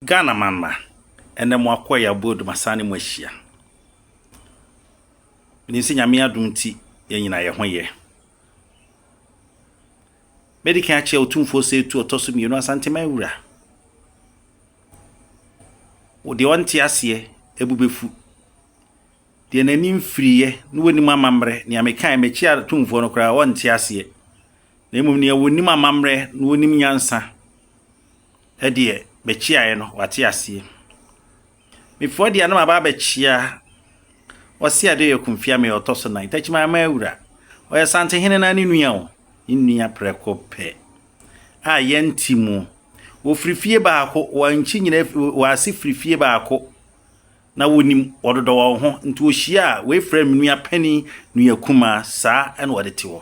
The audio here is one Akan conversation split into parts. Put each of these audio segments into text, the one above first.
Ghana man mma, ɛnɛ mo akoa yi abɔ adum asan ne mo ahyia. Menim sɛ Nyame adom nti yɛn nyinaa yɛ ho yɛ. Mɛdi kan akyɛ Otumfoɔ Seetu ɔtɔ so mmienu Asanteman wura. Wo deɛ ɔnte aseɛ ebu bɛfu. Deɛ n'ani mfiriiɛ ne wɔnim amammerɛ nea mekae makyi atumfoɔ no koraa ɔnte aseɛ. Na mmom nea wɔnim amammerɛ na wɔnim nyansa deɛ, mekyeaeɛ no, wate aseɛ. Mefua deɛ na maba abɛkyea ɔse ade ɔyɛ kumfia meyɛ ɔtɔ so nan takyi maa maa wura ɔyɛ santehene na ne nua o ne nua prɛko pɛ a yɛnti mu wɔfiri fie baako wɔnkyi nyina wɔase firi fie baako Na wɔnim wɔdodɔ wɔn ho, nti wɔhyia a, wɔfrɛ me nua panin, nua kumaa, saa na wɔde te hɔ.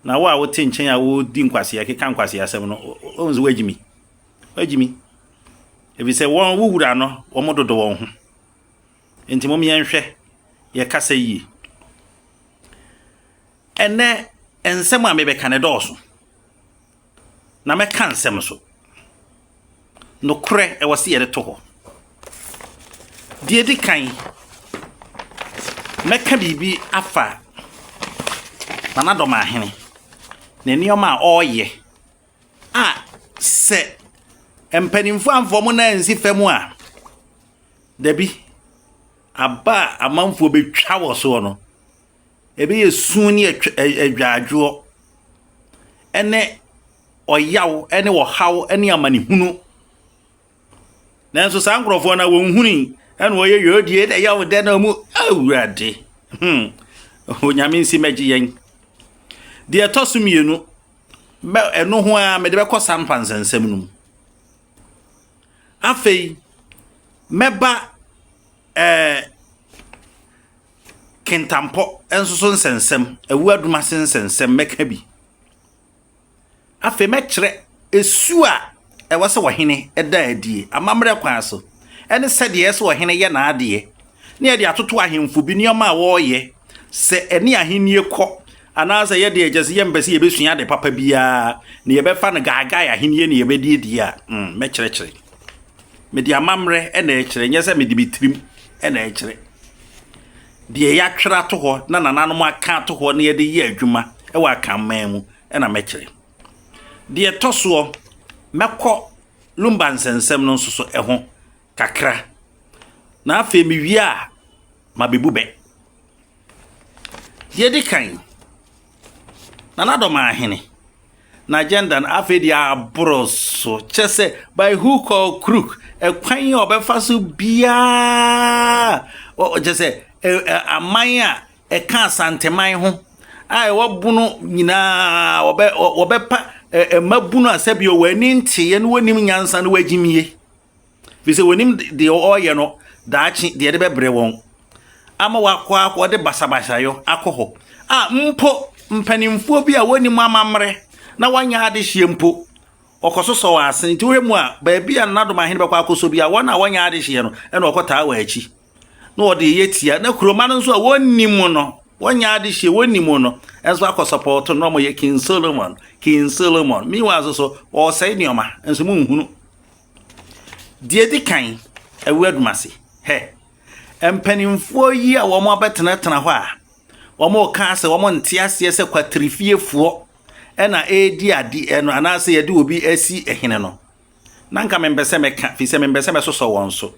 Na wo a wote nkyɛn a wodi nkwasea, keka nkwasea asɛm no, wohu sɛ woagye mi. Woagye mi. Ɛfiri sɛ wɔn, wo wura no, wɔn dodo wɔn ho. Nti mom yɛnhwɛ yɛ kasa yie. Ɛnɛ, nsɛm a mebɛka no dɔɔso. na mɛka nsɛm so. Nokorɛ, ɛwɔ se yɛde to hɔ. Deɛ edi kan, mɛka biribi afa Nanadomaahene ne nneɛma a ɔreyɛ a sɛ mpanimfoɔ amfa wɔn nan ansi fam a, dabi, aba a amanfoɔ bɛtwa wɔ soɔ no, Ɛbɛyɛ su ne adwadwoɔ ne ɔyaw ne ɔhaw ne amanehunu. Nanso saa nkurɔfoɔ no wɔnhunu ɛna wɔyɛ yɛn die na ɛyɛ ɔdɛ na wɔn awurade hmm onyame nsi mɛgye yɛn. Deɛ ɛtɔ so mmienu bɛ ɛno ho ara mede bɛkɔ saa mpansɛnsɛm no mu. Afei mɛba ɛɛ. Eh, Kentampɔ nso so nsɛnsɛm, awu adum ase nsɛnsɛm, mɛka bi. Afei mɛkyerɛ esu a ɛwɔ sɛ ɔhene da adie amammerɛ kwan so, ɛne sɛdeɛ ɛyɛ sɛ ɔhene yɛ n'adeɛ, ne ɛde atoto ahemfo bi nneɛma a wɔreyɛ sɛ ɛne ahennie kɔ, anaasɛ yɛde ɛkyɛ sɛ yɛmpɛ sɛ yɛbɛsua ade papa biara, na yɛbɛfa no gaagae ahennie na yɛbɛdiedie a, mm, mɛkyerɛkyerɛ. Mede amammerɛ na ɛrekyerɛ, nyɛ sɛ mede me tirim na ɛrekyerɛ. Deɛ yɛatwerɛ ato hɔ na nananom aka ato hɔ na yɛde yɛ adwuma wɔ akanman mu na mɛkyerɛ. Deɛ ɛtɔ soɔ, mɛkɔ Lumba nsɛnsɛm no nso so ho kakra, na afei mewie a, mabɛbu bɛ. Deɛ ɛdi kan, Nana Addo maa ahene n'agenda no afei deɛ aboro so kyɛ sɛ by hook or crook ɛkwan a ɔbɛfa so biara kyɛ sɛ aman a ɛka asanteman ho a ɛwɔ bono nyinaa wɔbɛ wɔbɛpa mmabunu a sɛbi wɔn ani nteeɛ na wɔnim nyansa no wɔagyimie. Firi sɛ wɔnim deɛ ɔreyɛ no daakye deɛ ɛde bɛbrɛ wɔn ama wakɔ akɔ ɔde basabasayɔ akɔ hɔ a mpo mpanimfoɔ bi a wɔnim amammerɛ na wɔanyɛ adehyeɛ mpo ɔkɔ so sɔ wɔn ase nti wohwɛ mu a baabi a nanadom ahene bɛkɔ akɔsɔ bi a wɔn a wɔnyɛ adehyeɛ no ɛna ɔkɔtaa wɔ akyi na wɔde yɛ tia na kuroma no nso a wɔnnim no wɔnyɛ adehyeɛ wɔnnim no nso akɔ sɔpɔɔto no na wɔyɛ king solomon king solomon meanwhile nso so ɔresɛe nneɛma nso mu nhunu Deɛ ɛdi kan, awu adum ase. Hɛ, mpanimfoɔ yi a wɔabɛtenatena hɔ a wɔreka sɛ wɔnte aseɛ sɛ kwatirifiefoɔ na ɛredi adeɛ no anaasɛ yɛde obi asi hene no, na nka mempɛ sɛ mɛka firi sɛ mempɛ sɛ mɛsosɔ wɔn so.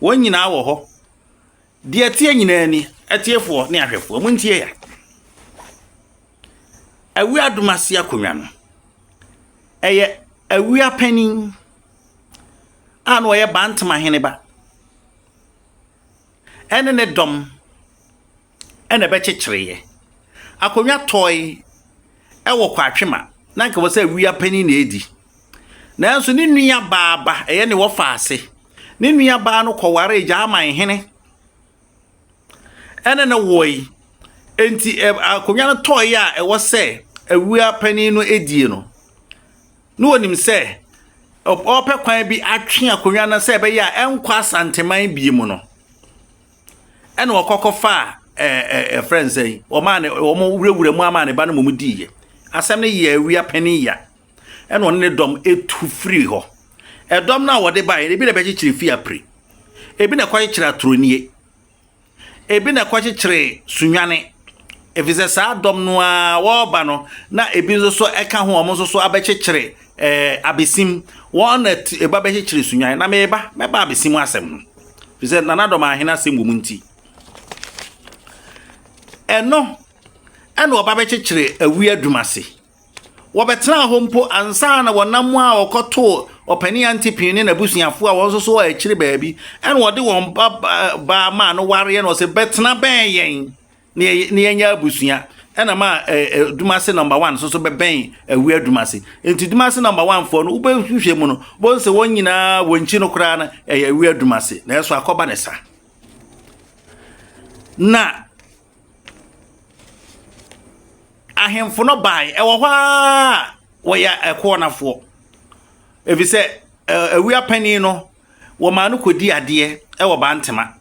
Wɔn nyinaa wɔ hɔ, Deɛ ɛteɛ nyinaa ni, atiefoɔ ne ahwɛfoɔ, montie ya. Awia Adomase akonnwa no, ɛyɛ awia panin a na ɔyɛ Bantama heneba ɛne ne dɔm ɛna ɛbɛkyekyereeɛ. Akonnwa tɔe ɛwɔ Kwatwema, na nka wɔ sɛ awia panin na ɛredi. Nanso ne nua baa ba, ɛyɛ ne wɔfa ase. Ne nua baa no kɔwaree Gyaman hene ɛne no wɔe. Enti akonnwa no tɔɔe a ɛwɔ sɛ awua panin no die no, na onim sɛ ɔpɛ kwan bi atwe akonnwa no sɛ ɛbɛyɛ a ɛnkɔ Asanteman bie mu no, ɛna ɔkɔkɔfaa ɛɛ ɛfrɛ nsɛn, ɔmaa ne wɔn wurawura mu ama ne ba no mmom diiɛ. Asɛm no yɛ awia panin ya. ɛna ɔne ne dɔm tu firii hɔ. Ɛdɔm no a wɔde baeɛ no, ebi na ɛbɛkyekyere fie apire, ebi na ɛkɔkyekyere atorɔnie, ebi na ɛkɔkyekyere sunwane, ɛfiri sɛ saa dɔm no ara wɔreba no na ebi nso so ɛka ho wɔn nso so abɛkyekyere ɛɛ abesim wɔn na ɛba bɛkyekyere sunyan na meba mɛba abesim asɛm ho ɛfiri sɛ nana dɔm ahene asɛm wɔ mu nti ɛno ɛna ɔba bɛkyekyere awi adwuma ase. Wɔbɛtenaa hɔ mpo ansa na wɔnam a wɔkɔtoo Ɔpanin Antipater ne n'abusuafo a wɔn nso so wɔ akyiri baabi, ɛnna wɔde wɔn ba baa maa no wareɛ, na wɔsɛ bɛtena bɛn yɛn na yɛnyɛ abusua. Ɛna ma Dumase number one nso so bɛbɛn Awia Dumase. Nti Dumase number one foɔ no, wobɛhwehwɛ mu no, wobɛhu sɛ wɔn nyinaa wɔn nkyi no koraa no ɛyɛ Awia Dumase, nanso akɔba ne sa. Na Ahemfo no bae, ɛwɔ hɔ ara wɔyɛ ɛkoɔnafoɔ, ɛfiri sɛ awia panin no wɔmaa no kɔdi adeɛ wɔ Bantema.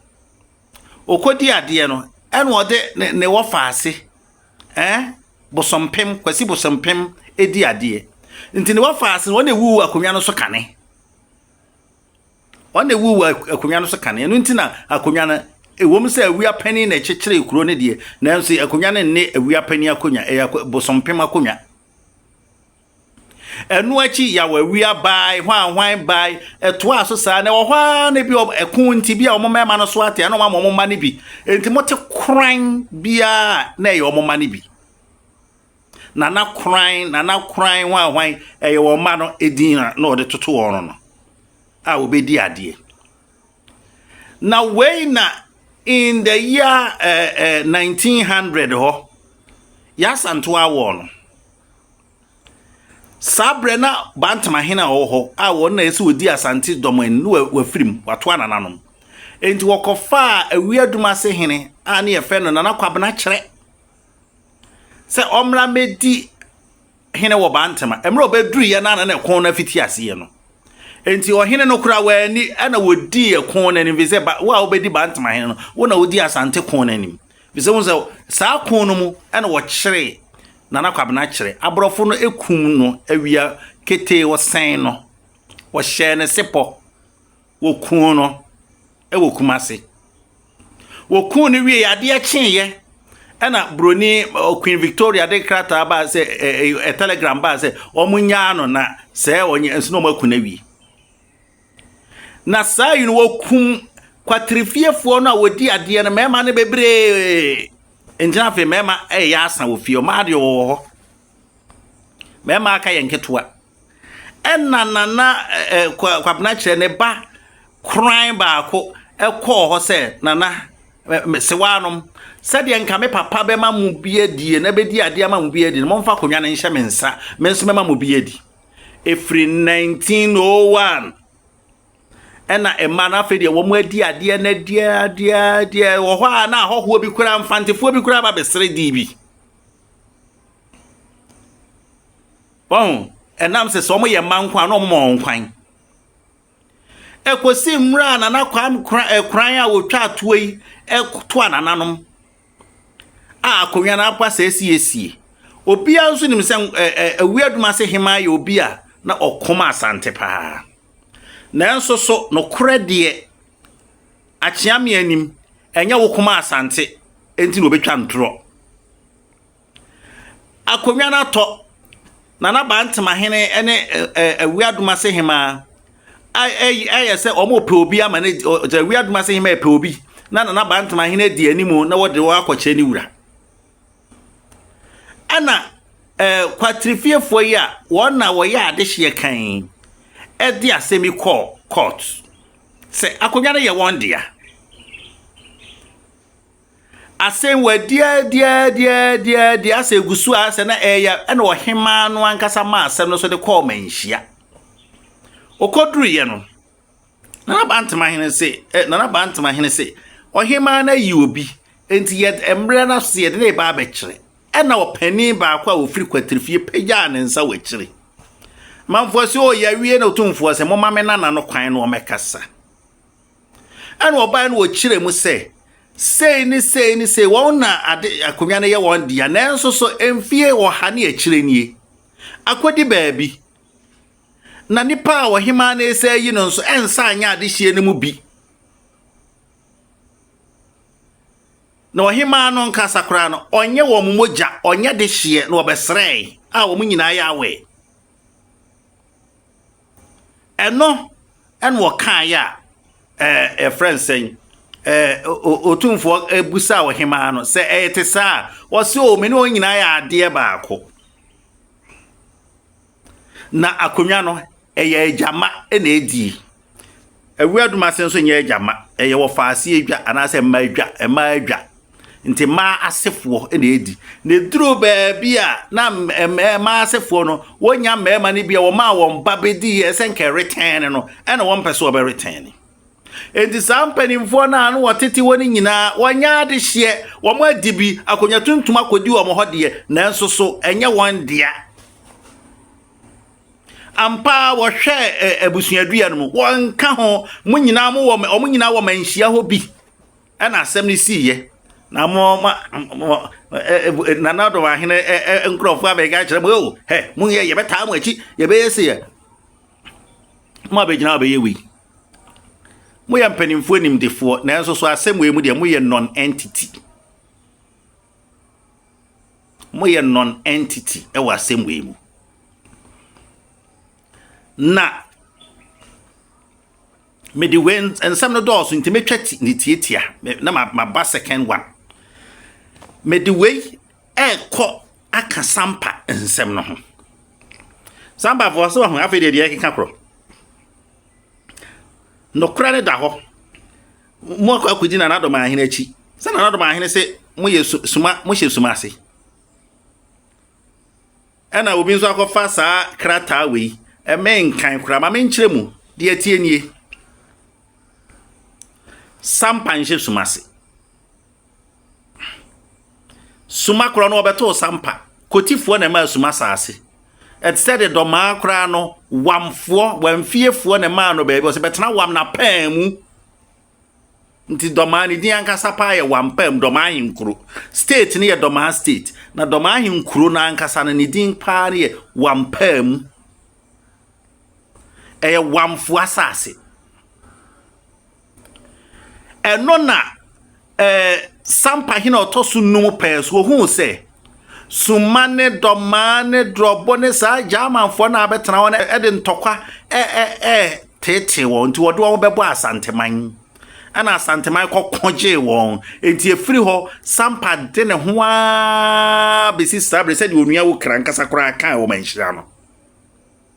Ɔkɔdi adeɛ no ɛna ɔde ne ne wɔfa ase ɛn Bosompem Kwasi Bosompem di adeɛ. Nti ne wɔfa ase no ɔna ɛwuwu akonnwa no so kane. Wɔn na ɛwuu wɔ akonnwa no so kane. Ɛno nti na akonnwa no, ɛwom sɛ awia panin na ɛkyekyeree kuro no deɛ, nanso akonnwa no nne awia panin akonnwa, ɛyɛ bosompem akonnwa. Ɛno akyi yaw awia bae, hwanhwan bae, ɛtoaa so saa na ɛwɔ hɔ ara na bi ɛko nti bi a wɔn mmarima no so ate a na wɔn ama wɔn mma no bi. Enti mote koran biara na ɛyɛ wɔn mma no bi. Nana Koran, Nana Koran hwan hwan ɛyɛ wɔn mma no edin na na wɔde toto wɔn no a wɔbɛdi adeɛ. Na wei na in the year uh, eh, uh, eh, 1900 hɔ yɛasanto awɔ no saa berɛ na bantama hene a ɔwɔ hɔ a wɔn na ɛsɛ wɔdi asante dɔm ani ne wafiri mu wato anananom enti wɔkɔfaa awiadum ase hene a ne yɛfɛ no nana kwabena kyerɛ sɛ ɔmmra mmɛdi hene wɔ Bantama. Mmerɛ ɔbɛduruiɛ no ana na ɛko no afiti aseɛ no. Enti ɔhene no koraa wɔani ɛna wɔdii ɛko no anim fi sɛ wo a wobɛdi Bantama hene no wo na wodi Asante ko no anim. Fi sɛ wo sɛ saa ko no mu ɛna wɔkyere Nana Kwabena kyerɛ. Aborɔfo no ɛkum no awia ketee wɔsɛn no. Wɔhyɛɛ no sepɔ. wɔkuu no wɔ Kumasi. Wɔkuu no wie adeɛ kyeeɛ ɛna buroni Queen Victoria de krataa baa sɛ ɛ telegram baa sɛ wɔn nyaa no na sɛ wɔn nso na wɔn aku no awie. Na saa yi no wɔkum kwatirifiefoɔ no a wɔdi adeɛ no mmarima no bebree ngyina afei mmarima ɛyɛ asa wɔ fie ɔmaa deɛ wɔwɔ hɔ. Mmarima aka yɛ nketewa. Ɛna nana ɛɛ kwabena kyerɛ ne ba koran baako ɛkɔɔ hɔ sɛ nana sewaa nom sɛdeɛ nka me papa bɛma mo bi adie na bɛdi adeɛ ama mo bi adi no momfa akonnwa no nhyɛ me nsa me nso mɛma mo bi adi. Ɛfiri 1901 ɛna mmaa no afei deɛ wɔn adi adeɛ no adeɛ adeɛ adeɛ wɔ hɔ a na ahɔhoɔ bi kura mfantefoɔ bi kura ba bɛsere dii bi. Wahu? Ɛnam sɛ sɛ wɔyɛ mma nko a na wɔma wɔn kwan. Ɛkɔsi mmerɛ a Nana Kwame eh, Kran a wɔtwa atoɔ yi toa nananom a akonnwa no aba sɛ asiesie. Obiara nso nim sɛ eh, eh, awia adwuma ase hema yɛ obi a na ɔkɔm asante paa. Nanso so nokorɛ deɛ Akyea me anim, ɛnyɛ wo koma asante nti na obetwa ntorɔ. Akonnwa no atɔ, Nana Bantemahene ne Awiadomase Hemaa ayɛ sɛ wɔrepɛ obi ama no adi, Awiadomase Hemaa repɛ obi na Nana Bantemahene adi anim na wɔde wɔn akɔkyerɛ ne wura. Ɛna kwatrifiefoɔ yi a wɔn na wɔyɛ adehyeɛ kan yi de asɛm yi kɔɔ court sɛ akonnwa no yɛ wɔn dea. Asɛm wɔadiadiadiadiadi asɛ gu so a sɛ na ɛyɛ ɛna ɔhemaa no ankasa ma asɛm no so de kɔɔ manhyia. Ɔkɔduruiɛ no, Nana Bantamahene se, eh, Nana Bantamahene se, ɔhemaa no ayi obi, enti yɛd mmerɛ no ase yɛde no reba abɛkyerɛ. Ɛna ɔpanin baako a ɔfiri Kwatirifie pagyaa ne nsa wɔ akyire. Manfoɔ se, oh, yɛawie na Otumfoɔ se, momma me nana no kwan na ɔmmɛkasa. Ɛna ɔbaeɛ no ɔkyerɛ mu sɛ, sei ne sei ne sei, wɔn na ade akonnwa no yɛ wɔn dea, nanso so mfie ɔha ne akyire nie, akɔdi baabi. na nnipa a ɔhemaa no resa ayi no nso nsa anyɛ adehyeɛ no mu bi. na ɔhemaa no nkasa koraa no ɔnyɛ wɔn mogya ɔnyɛ de hyeɛ na ɔbɛsrɛe a wɔn nyinaa yɛ awɛ ɛno ɛna ɔkaeɛ a ɛɛ ɛfrɛ nsɛn ɛɛ otumfoɔ ebusa ɔhemaa no sɛ ɛyɛ te saa ɔsi o mene wɔn nyinaa yɛ adeɛ baako. Na akonnwa no, ɛyɛ agyama na edi. Awia dum ase nso nyɛ agyama. Ɛyɛ wɔfa ase adwa anaasɛ mmaa adwa, mmaa adwa. Nti mmaa asefoɔ na edi. Na eduru baabi a na mmaa asefoɔ no wɔnya mmarima no bi a wɔmaa wɔn ba bedi yɛ sɛ nka ɛretɛn no no, ɛna wɔn mpɛ so wɔbɛretɛn no. Enti saa mpanimfoɔ no a na wɔtete hɔ no nyinaa wɔnyɛ adehyeɛ, wɔn adi bi, akonnwa tuntum akɔdi wɔn hɔ deɛ, nanso so ɛnyɛ wɔn dea. Ampa ara wɔhwɛ ɛ abusuadua no mu. Wɔnka ho. Wɔn nyinaa mo wɔ wɔn nyinaa wɔ manhyia hɔ bi. Ɛna asɛm no sii yɛ. Na mo ma mo nana ɔdɔm ahene nkurɔfoɔ abɛka akyerɛ mo o hɛ mo yɛ yɛbɛtaa mo akyi yɛbɛyɛ se yɛ. Mo abɛgyina abɛyɛ wei. Moyɛ mpanimfoɔ nimdefoɔ nanso so asɛm wei mu deɛ moyɛ non-entity. Moyɛ non-entity wɔ asɛm wei mu. Na mede wei nsɛm no dɔɔso nti metwa ti ne tiatia na maba second one. Mede wei ɛrekɔ aka sampa nsɛm no ho. Sampa fo ɔsɛ ɔho afei deɛ deɛ ɛkeka korɔ. Nokora ne da hɔ. Moakɔ akɔdi nananom ahene akyi, sɛ nananom ahene se moyɛ suma, mohyɛ suma ase. Ɛna obi nso akɔfa saa krataa wei, ɛmɛ nkan koraa, ma menkyerɛ mu, deɛ ɛteɛ nie. Sampa nhyɛ suma ase. Suma korɔ no wɔbɛtoo sampa, Kotifoɔ na ɛmaa Suma saase. Ɛte sɛ de dɔmaa koraa no, Wamfoɔ, Wamfiefoɔ na ɛmaa no baabi ɔsɛ bɛtena Wam na paa mu. Nti dɔmaa ne din ankasa paa yɛ Wam paa mu dɔmaa ahenkuro. State no yɛ dɔmaa state, na dɔmaa ahenkuro no ankasa no ne din paa no yɛ Wam paa mu. Ɛyɛ Wamfoɔ asaase. Ɛno na ɛɛ Sampa hene a ɔtɔ so num pɛɛ so ohuu sɛ summa ne dɔmaa ne dorɔbo ne saa Germanfoɔ no a abɛtena hɔ no de ntɔkwa ɛɛteetee wɔn nti wɔde wɔn bɛbɔ Asanteman. Ɛna Asanteman kɔko gyee wɔn. Nti efiri hɔ Sampa de ne ho ara bɛsi saa bere sɛdeɛ onua wo kra nkasa koraa kaa wɔ manhyira no.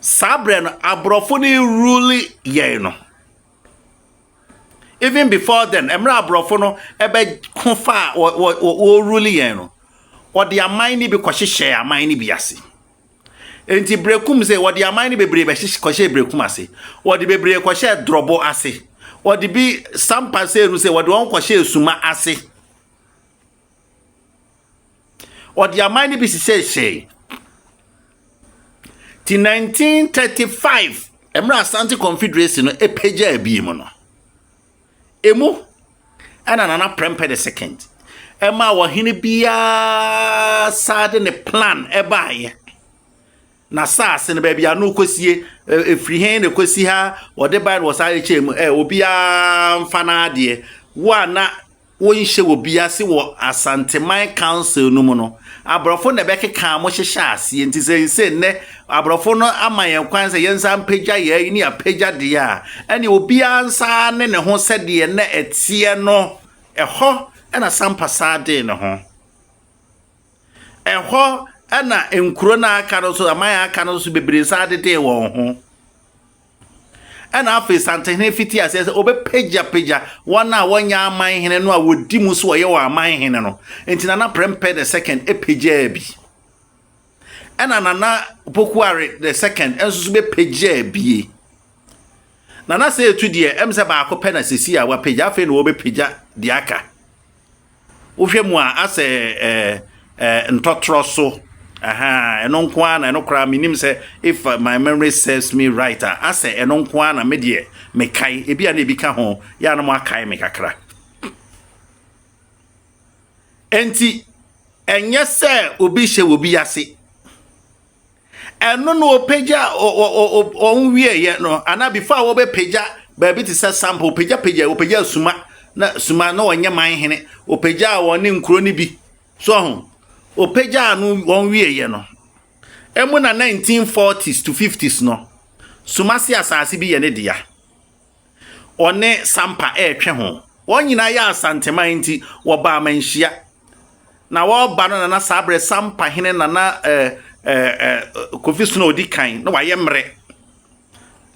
Saa berɛ no, aborɔfo no rerule yɛn no. Even before then, mmerɛ aborɔfo no ɛbɛko faa wɔrerule yɛn no, wɔde aman no bi kɔhyehyɛɛ aman no bi ase. Nti Brekum sɛ wɔde aman no bebree bɛhyehyɛ kɔhyɛɛ Brekum ase. Wɔde bebree kɔhyɛɛ Drɔbo ase. Wɔde bi Sampa sɛ no sɛ wɔde wɔn kɔhyɛɛ Suma ase. Ɔde aman no bi hyehyɛehyɛe. Ti 1935, mmerɛ Asante Confederacy no pagyaa abie mu no, emu ɛna Nana Prempeh the second ɛma ɔhene biara saa de ne plan ɛbaeɛ. Na saase no baabi a no kɔsie, ɛfiri he na ɛkɔsi ha, ɔde bae na ɔsan de kyɛɛ mu, ɛ obiara mfa n'adeɛ. Wo a na wonhyɛ obi ase wɔ Asanteman Council no mu no, aborɔfo na ɛbɛkekaa mo hyehyɛɛ aseɛ. Nti sɛ nse nnɛ aborɔfo no ama yɛn kwan sɛ yɛnsa mpagya yɛn ayi ne yɛapagya deɛ a, ɛneɛ obiara nsa ne ne ho sɛdeɛ na ɛteɛ no. Ɛhɔ na Sampa saa dee ne ho. Ɛhɔ na nkuro no a aka no nso, aman a aka no nso bebree saa dedee wɔn ho. Ɛnna afei Santehene fitii aseɛ sɛ ɔbɛpagyapagya wɔn a wɔnyɛ amanhene no a wɔdi mu so ɔyɛ wɔn amanhene no. Enti Nana Prempeh the Second pagyaa bi. Ɛnna Nana Pokuare the Second nso so bɛpagyaa bie. Nana Seitu deɛ, ɛm sɛ baako pɛ na sɛsi a wapagya, afei na wɔbɛpagya deɛ aka. Wohwɛ mu a asɛ ɛɛ ɛɛ ntɔtrɔ so. Ahaa, ɛno nko ara na ɛno koraa menim sɛ if my memory serves me right a, asɛ ɛno nko ara na me deɛ mekae. Ebi a na ebi ka ho, yɛ a na moakae me kakra. Enti, ɛnyɛ sɛ obi hyɛ wɔ bi ase. Ɛno na wɔpagya wɔn wieɛ no anaa before a wɔbɛpagya baabi te sɛ sampa wɔpagyapagya wɔpagya suma na suma na wɔnyɛ man hene wɔpagya wɔn ne nkuro no bi so ho wɔpagya no wɔn wieɛ no ɛmu na 1940s to 50s no suma se asase bi yɛ ne dea ɔne Sampa retwe ho. Wɔn nyinaa yɛ Asanteman nti, wɔbaa amanhyia. Na wɔreba no na na saa berɛ Sampa hene Nana eh, eh, eh, Kofi Sono ɔdi kan na wayɛ mmerɛ.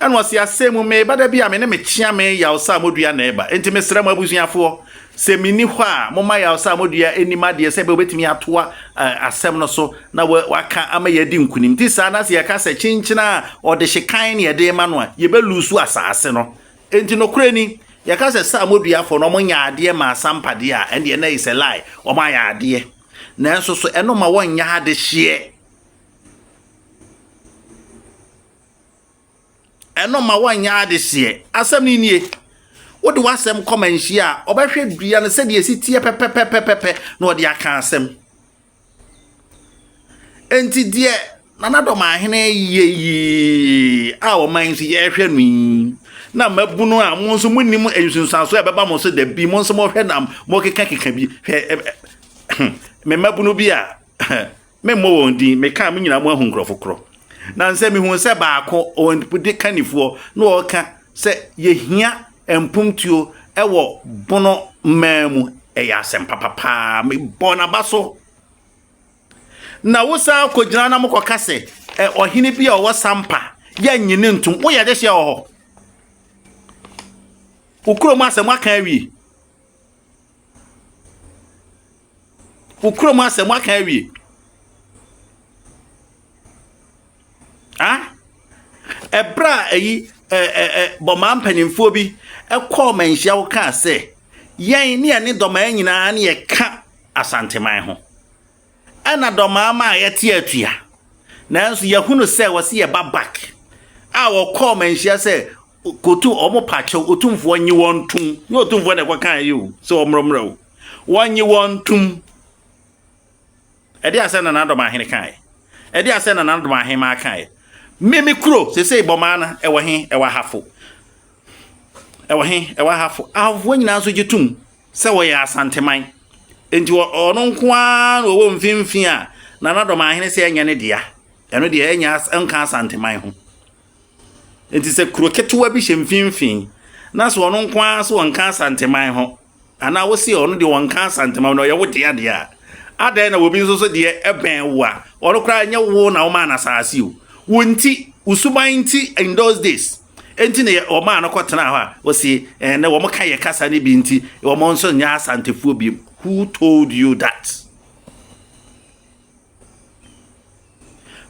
Ɛna ɔse asɛm mu meba da bi a me ne mekyea me yaw sa a modua na ɛba. Nti mesrɛ mo abusuafoɔ, Sɛ minni hɔ a, momma yaw sɛ amodua nnim adeɛ sɛ ɛbɛyɛ wobɛtumi atoa asɛm no so na waka ama yɛadi nkonim. Nti saa na sɛ yɛka sɛ kyenkyenɛ a ɔdehye kann ne yɛde rema no a, yɛbɛluusu asaase no. Enti nokorɛ ni, yɛka sɛ sɛ amɔduafoɔ no wɔnyɛ adeɛ mmaa asampa deɛ a, ɛndeɛ na it's a lie, wɔayɛ adeɛ. Nanso so ɛno mma wɔnyɛ adehyeɛ? Ɛno mma wɔnyɛ adehyeɛ. Asɛm no nie, wode w'asɛm kɔma nhyia a, ɔbɛhwɛ dua no sɛdeɛ ɛsi teɛ pɛpɛpɛpɛpɛ na ɔde aka asɛm. Enti deɛ Nana Dɔmahene yɛ yi a ɔman nso yɛrehwɛ no yi na mabunu a mo nso monim nsunsuansoɔ a ɛbɛba mo so da bi mo nso mohwɛ na mokekakeka bi hwɛ me mmabunu bi a Memmɔ wɔn din, meka a mo nyinaa moahu nkurɔfo korɔ. Nansɛ mehuu sɛ baako, wɔn de kannifoɔ, na ɔreka sɛ yɛhia mpontuo wɔ Bono mmaa mu. Ɛyɛ asɛm papa paa. Mebɔɔ n'aba so. Na wosan kɔgyina na mokɔka sɛ ɛ, ɔhene bi a ɔwɔ Sampa, yɛnnye ne ntom. Woyɛ adehyeɛ wɔ hɔ? Wo kurom asɛm aka awie. Wo kurom asɛm waka awie. Ah? Ɛberɛ a ɛyi bɔmaa mpanimfoɔ bi kɔɔ manhyia wo kaa sɛ yɛn ne yɛne dɔmaa nyinaa ne yɛka asanteman ho ɛna dɔmaa ma a yɛte atua nanso yɛhunu sɛ wɔse yɛba bak a wɔkɔɔ manhyia sɛ kɔtu ɔmo pakyɛw ɔtumfoɔ nye wɔn tom ne ɔtumfoɔ na ɛkɔkaa yi o sɛ ɔmmrɛmmrɛ o Wɔnnye wɔn ntom. Ɛdeɛ asɛ na n'adɔm ahene kaeɛ? Ɛdeɛ asɛ na n'adɔm ahemmaa kaeɛ? Me me kuro sesei bɔmaa no ɛwɔ he ɛwɔ ahafo ɛwɔ he ɛwɔ ahafo ahofoɔ nyinaa nso gye tom sɛ wɔyɛ asanteman nti ɔno nko ara na ɔwɔ mfimfini a na n'adɔm ahene sɛ ɛnyɛ ne dea ɛno deɛ ɛnyɛ nka asanteman ho nti sɛ kuro ketewa bi hyɛ mfimfini na sɛ ɔno nko ara sɛ ɔnka asanteman ho Anaa wo se ɔno deɛ ɔnka Asantema mu na ɔyɛ wo dea deɛ a, adɛn na obi nso so deɛ ɛbɛn wo a ɔno koraa nyɛ wo na womaa no asase o, wo nti, wo suban nti in those days nti na wɔmaa no kɔtenaa hɔ a ɔse ɛnɛ wɔn ka yɛ kasa no bi nti wɔn nso nyɛ Asantefoɔ biom. Who told you that?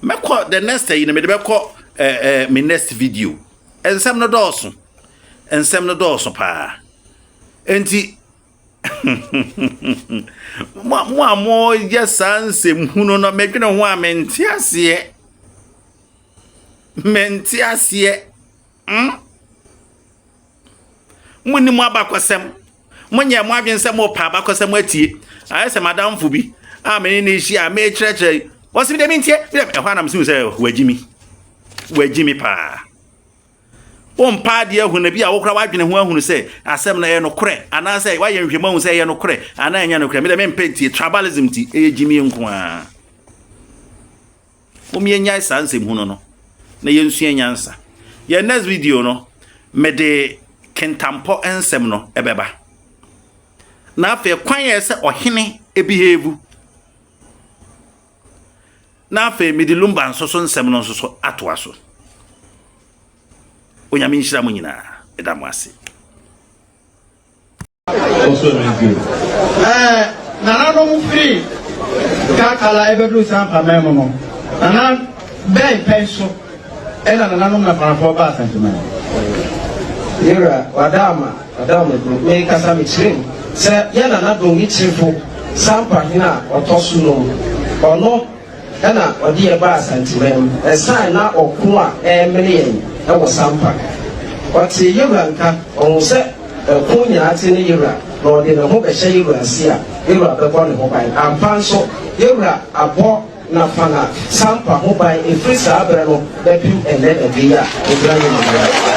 mɛkɔ the next ayi no mede bɛkɔ eh, eh, me next video nsɛm no dɔɔso nsɛm no dɔɔso paa nti mo a mo a moyɛ saa nsɛm hunu no medwene ho a mente aseɛ mente aseɛ mm? Mo nni mo abakɔsɛm. Mo nyɛ mo adwene sɛ mo pa abakɔsɛm atie. Ayɛ sɛ madamfo bi a me ne ne hyia a mekyerɛkyerɛ yi. Wɔsi mi dɛ mi ntie. Mi dɛ ɛhɔ anam si mi sɛ wɔagyi mi. Wɔagyi mi paa. Wompa adeɛ ahu na bi a wokora w'adwene ho ahunu sɛ asɛm no ɛyɛ nokorɛ anaasɛ woayɛ nhwɛmu ahu sɛ ɛyɛ nokorɛ anaa ɛnyɛ nokorɛ medɛ mempɛ ntie tribalism ti ɛyɛ gyimie nko ara Mom yɛnyae saa nsɛm hunu no na yɛnsua nyansa. Yɛn next video no, mede kentampɔ nsɛm no ɛbɛba. Na afei kwan yɛ sɛ ɔhene ebehave. Na afei mede lumba nso so nsɛm no nso so atoa so. Onyame nhyira mo nyinaa. Ɛda mo ase. Ɛɛ nananom firi Kakala ɛbɛduru Sampama mu no, nana bɛn pɛn so ɛna nananom Nafanafoɔ baa Santiman? Me wura, wada ama, wada ama duro. Me kasa me kyerɛ mu sɛ yɛn nana Dongi Kyirifo, Sampa hene a ɔtɔ so num, ɔno na ɔde yɛn baa Asanteman mu ɛsan na ɔko a ɛremene yɛn wɔ Sampa. Ɔtee Yewura nka, ɔhuu sɛ ɛko nyinaa te ne Yewura na ɔde ne ho bɛhyɛ Yewura ase a, Yewura bɛbɔ ne ho ban. Ampa nso, Yewura abɔ Nafana Sampa ho ban ɛfiri saa berɛ no bɛpem ɛnnɛ da bi a ɛgyina yɛn anim.